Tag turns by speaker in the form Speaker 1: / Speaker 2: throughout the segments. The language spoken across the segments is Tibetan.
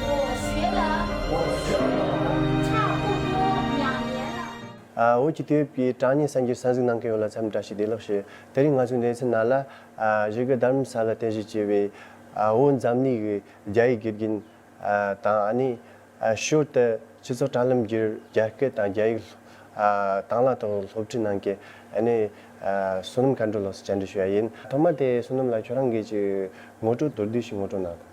Speaker 1: འོ་ཞོས་ལ། འོ་ཞོས་ལ། ཕྱག་དབུ་མོ་ཡང་ཡལ་ལ། འོད་ཀྱི་དུས་བབས་ཀྱིས་གྲངས་སྙེད་སངས་རྒྱས་ས་གཟིགས་གནང་མཁན་ཡོད་ལ་མཚམས་འདྲ་ཞིག་བདེ་ལགས་ཞུ། དེ་རིང་ང་ཚོའི་གནས་ཚུལ་ནང་ལ། གཞིས་ཀ་དར་མ་ས་ལ་རྟེན་གཞི་བྱས་པའི། བོད་འཛམ་གླིང་གི་རྒྱ་ཡིག་དགེ་རྒན། དང་ཨ་ནེ། ཞོལ་དུ་སྤྱི་ཚོགས་དྲ་ལམ་བརྒྱུད་རྒྱ་སྐད་དང་རྒྱ་ཡིག། དང་ལ་ཐོག་སློབ་ཁྲིད་གནང་མཁན་ཨ་ནེ། བསོད་ནམས་མཁའ་འགྲོ་ལགས་སུ་བཅར་འདྲི་ཞུ་ཡ་ཡིན། ཐོག་མ་དེ་བསོད་ནམས་ལགས་ཁྱོད་རང་འགས་ཀྱི་ངོ་སྤྲོད་མདོར་བསྡུས་ཤིག་ངོ་སྤྲོད་གནང།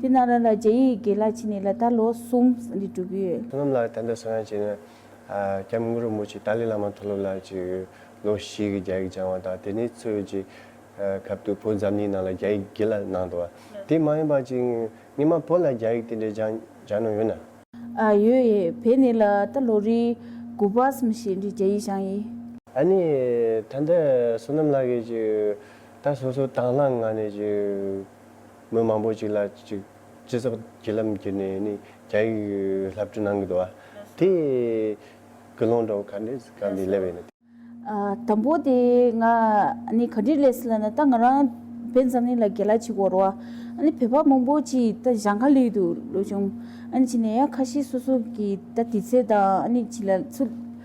Speaker 2: དེས་ན་རང་ལ་རྗེ་ཡི་དགེ་ལ་བྱིན་ནས་ལ་དྭགས་ལོ་གསུམ་འདིར་འགྲོ་གི་ཡོད། སྔོན་ལ་དམ་པའི་གསང་བ་བྱས་
Speaker 1: ན། སྐྱབས་མགོན་རིན་པོ་ཆེ་ཏཱ་ལའི་བླ་མ་མཐོ་སློབ་ལ་ཅིག་ལོ་བཞི་གི་རྒྱ་ཡིག་སྦྱང་བ་དང་དེ་ནས་ཚུར་ཡོད་ཅིག་སྐབས་དུ་བོད་འཛམ་གླིང་ནང་ལ་རྒྱ་ཡིག་དགེ་ལ་གནང་འདུག་བ་དེ་མ་ཡིན་པ་ཅིག་ངས་མ་བོད་ལ་རྒྱ་ཡིག་དེ་འདྲའི་སྦྱང་སྦྱང་ནོ་ཡོད་ན། ཡོད་ཡོད་
Speaker 2: བོད་ནས་ལ་དྭགས་ལོ་རེའི་དགུ་པ་གསུམ་བཞི་འདིར་རྒྱ་ཡིག་སྦྱང་ཡི། ཨ་ནི་
Speaker 1: ད་ལྟ་བསོད་ནམས་ལགས་ཀྱིས་ཅིག་ད་སོ་སོ་དྭང་བླངས་ངང་ནས་ཅིག། མི་མང་པོ་ཞིག་ལ་སྤྱི་ཚོགས་བརྒྱུད་ལམ་བརྒྱུད་ནས་ནི་རྒྱ་ཡིག་བསླབ་བྱ་གནང་གི་འདུག་བ། དེ་དགུ་སློང་གྲོགས་ག་འདྲས་ག་འདྲས་སླེབས་ཡོད་ན། དང་པོ་
Speaker 2: དེ་ང་ནི་ག་འདྲས་སླེབས་སླེབས་ན་ད་ང་རང་བོད་འཛམ་གླིང་ལ་རྒྱལ་ལ་ཆིག་བོར་བ། ནི་བོད་པ་མང་པོ་ཆིག་ད་ཞང་ཁ་ལུད་དུ་ལོས་བྱུང། ཨ་ནི་བྱས་ནས་ཡང་ཁ་ཤས་སོ་སོ་གི་ད་དུས་ཚོད་དང་ཨ་ནི་བྱིས་ལ་ཚུད།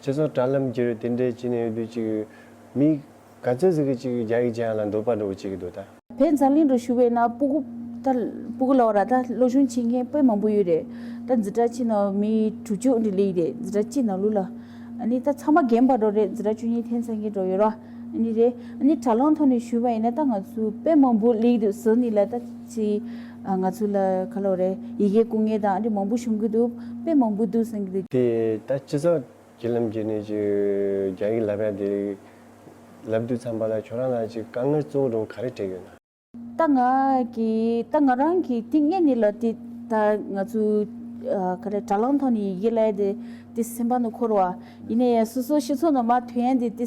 Speaker 1: སྤྱི་ཚོགས་དྲ་ལམ་གྱི་རུ་དེ་འདྲའི་གྱི་ནས་ཡོད་དུས་ཅིག་མི་ག་ཚོད་ཟིག་གི་ཅིག་རྒྱ་ཡིག་ཅན་ལ་འདོད་པ་འགྲོ་གི་ཅིག་འདུག་ད། བས་འཛམ་གླིང་རུ་ཞུ་
Speaker 2: བས་ན་སྤུ་གུ། ད་སྤུ་གུ་ལོག་ར་ད་བློ་ཆུང་བྱེད་མཁན་དཔེ་མང་པོ་ཡོད་རེད་ད་འཛི་གྲ་གྱི་ནང་མི་དྲུག་ཅུ་འདི་ལིག་རེད་འཛི་གྲ་གྱི་ནང་ལུག་ལ། ནི་ད་ཚང་མ་རྒན་པར་འགྲོ་རེད་འཛི་གྲ་ཅུ་གཉིས་ཐེན་ཚང་གི་འགྲོ་ཡོད་ར་ནི་རེད་ནི་དྲ་ལམ་ཐོག་ནས་ཞུ་བ་ཡིན་ན་ད་ང་ཚོའི་དཔེ་མང་པོ་ལིག་འདུག་ཟིག་ནི་ལ་ད། ཚེ། ང་ཚོ་ལ་ཁ་ལོ་རེ། ཡི་གེ་སྐུ་ངལ་དང་ཨ་འབྲི་མང་པོ་བྱུང་གི་འདུག་དཔེ་མང་པོ་འདུག་གསུང་གི་འདུག། དེ་ད་སྤྱི་ཚོགས་
Speaker 1: ཀྱི་ལམ་གྱི་ནས་ཀྱི་རྒྱ་ཡིག་ལབ་ཡ་དེ་ལབ་དུས་ཚང་པ་ལ་ཁྱོད་རང་ལ་ཅིག་དཀའ་ངལ་གཙོ་བོ་དྲུང་ག་རེ་འཕྲད་ཡོད་ན། ད་ང་གི་ད་
Speaker 2: ང་རང་གི་ཏིང་ངེ་ནི་ལ་དེ་ད་ང་ཚོ་ག་རེ་དྲ་ལམ་ཐོག་ནས་ཡི་གེ་ལབ་ཡ་དེ་དེ་སེམས་པ་ནི་འཁོར་བ་ཡིན་ན་ཡ་སོ་སོ་སྤྱི་ཚོགས་ནང་མ་ཐོན་ཡ་དེ་དེ།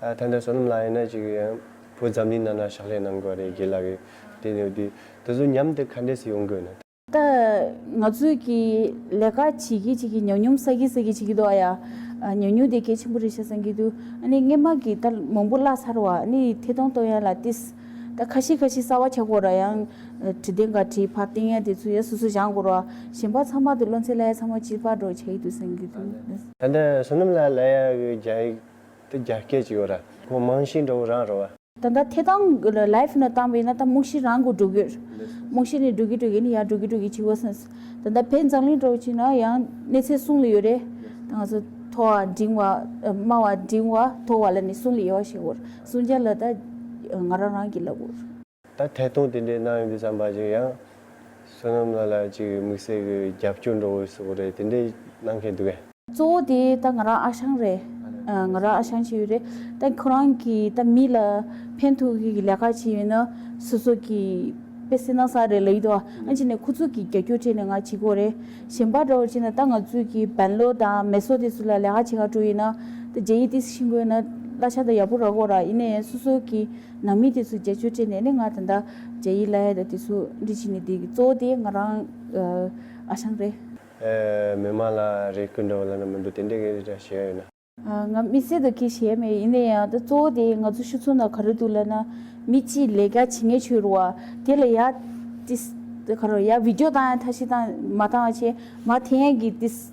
Speaker 1: ད་ལྟ་བསོད་ནམས་ལགས་ཡིན་ན་ཅིག་བུ་འཛམ་གླིང་ནང་ན་ཕྱག་ལས་གནང་དགོས་རེད་དགེ་ལགས་ཀྱི་དེ་ནས་བསྡུས་དེ་ཚོ་མཉམ་དུ་ག་འདྲས་སུ་ཡོང་དགོས་ན། ད་
Speaker 2: ང་ཚོས་ཀྱི་ལས་ཀ་བྱེད་ཀྱི་བྱེད་ཀྱི་ཉམས་མྱོང་ས་ཀྱི་ས་ཀྱི་བྱེད་ཀྱི་འདུག་ཨ་ཡ། ཉམས་མྱོང་དེ་གལ་ཆེན་པོ་རེད་བྱ་བསམ་གྱི་འདུག་ཨ་ནི་སྔན་མ་གྱི་ད་མང་པོ་བཀླགས་ཚར་བ་ཨ་ནི་ཐད་གཏོང་གཏོང་ཡ་ལ་ཏིས། ད་ཁ་ཤི་ཁ་ཤི་གསར་བ་བྱ་དགོས་ར་ཡང། བྲིས་ཏེ་འགའ་བྲིས་ཕར་བཏིང་ཡ་དེ་ཚོ་ཡང་སོ་སོ་སྦྱང་དགོས་ར། གཞན་པ་ཚང་མ་དེ་བློ་འཚེ་ལ་ཡ་ཚང་མ་སྤྱིར་པར་འགྲོ་བྱ་ཡི་འདུག་བསམ་གྱི་འདུག། ད་ལྟ་བསོད་
Speaker 1: ནམས་ལགས་ལ་ཡ་གི་རྒྱ་ཡིག་དེ་རྒྱ་སྐད་ཅིག་ཡོད་ར། ཁོང་མང་ཤིང་འདྲ་བོ་རང་རོ་བ། ད་ལྟ་དེ་དང
Speaker 2: life ནི་བཏང་བས་ན་ད་རྨོག་ཤིང་རང་གོ་འགྲོ་གི། རྨོག་ཤིང་ནི་འགྲོ་གི་འགྲོ་གི་ནི་ཡང་འགྲོ་གི་འགྲོ་གི་ཅིག་བ་སེམས། ད་ལྟ་བས་འཛམ་གླིང་འགྲོ་ཅིག་ན་ཡང་གནས་ཚད་གསུང་ལ་ཡོད་རེད། ད་ང་ཚོ་མཐོ་བ་འབྲིང་བ་དམའ་བ་འབྲིང་བ་མཐོ་བ་ལ་ནི་གསུང་ལ་ཡོད་བ་ཞིག་འོ། གསུང་བྱ་ལ་ད་ང་རང་རང་གིས་ལབ་འོ། ད་ཐད་གཏོང་དེ་
Speaker 1: འདྲའི་གནང་ཡོང་དུས་བསམ་པ་གཞིག་ཡང། བསོད་ནམས་ལགས་ལ་ཅིག་དམིགས་བསལ་གྱི་རྒྱབ་སྐྱོར་འགྲོ་དགོས་སོགས་རེད་དེ་འདྲའི་གནང་མཁན་འདུག་གས། གཙོ་བོ་དེ་ད་
Speaker 2: ང་རང་ཨ་ཞང་རེད། ང་རང་ཨ་ཞང་བྱེད་ཡུལ་རེད། ད་ཁོ་རང་གིས་ད་མི་ལ་ཕན་ཐོགས་ཡུལ་གྱི་ལས་ཀ་བྱེད་ཡུལ་ན། སོ་སོ་གྱིས་དཔེ་བསྲེ་གནང་ས་རེད་ལ་ཡིད་དོ། ཨང་ཅིག་ནས་ཁོ་ཚུགས་གིས་རྒྱ་སྐྱོར་བྱས་ནས་ང་བྱེད་དགོས་རེད། གཞན་པ་འདྲ་བོ་བྱས་ན་ད་ང་ཚུགས་ཀྱིས་བན་ལོ་དང་མེ་སོ་དེ་ཚུ་ལ་ལས་ཀ་བྱེད་ཁ་སྤྲོ་ཡུལ་ན། ད་རྒྱ་ཡིག་དེ་ཤིང་དགོས་ན་བླ་ཆ་ད་ཡག་པོ་རག་དགོས་ར་ཡིན་ནས་སོ་སོ་གྱིས། ནང་མི་དེ་ཚོས་རྒྱ་ཆོས་སྤྲད་ནས་ནི་ང་དང་ད་རྒྱ་ཡིས་བླ་ཡ་དང་དེ་ཚོ་འདྲི་བྱེད་ནི་དེ་གི་གཙོ་བོ་དེ་ང་རང་ཨ་ཞང་རེད། མི་མང་ལ་
Speaker 1: རེ་སྐུལ་འདྲ་བོ་ལབ་ན་མི་འགྲོ་དེ་འདྲས་གི་རེད་དྲ་ཞེས་ཡོད་ན། ང་མི་སེར་
Speaker 2: དང་ཁེ་ཞེ་མེད་ཡིན་ན་ཡང་ད་གཙོ་བོ་དེ་ང་ཚོ་ཤུ་ཚོ་ན་ག་རེ་འདུག་ལབ་ན་མི་གཅིག་ལས་ཀ་བྱེད་ངེས་ཆོས་རུ་བ་དེ་ལ་ཡ། ཏིས། ག་རོ་ཡ་བིད་ཀྱོ་བཏང་ཡ་ཐ་ཤི་བཏང་མ་བཏང་བ་ཆེ་མ་དེ་ཡན་གི་ཏིས།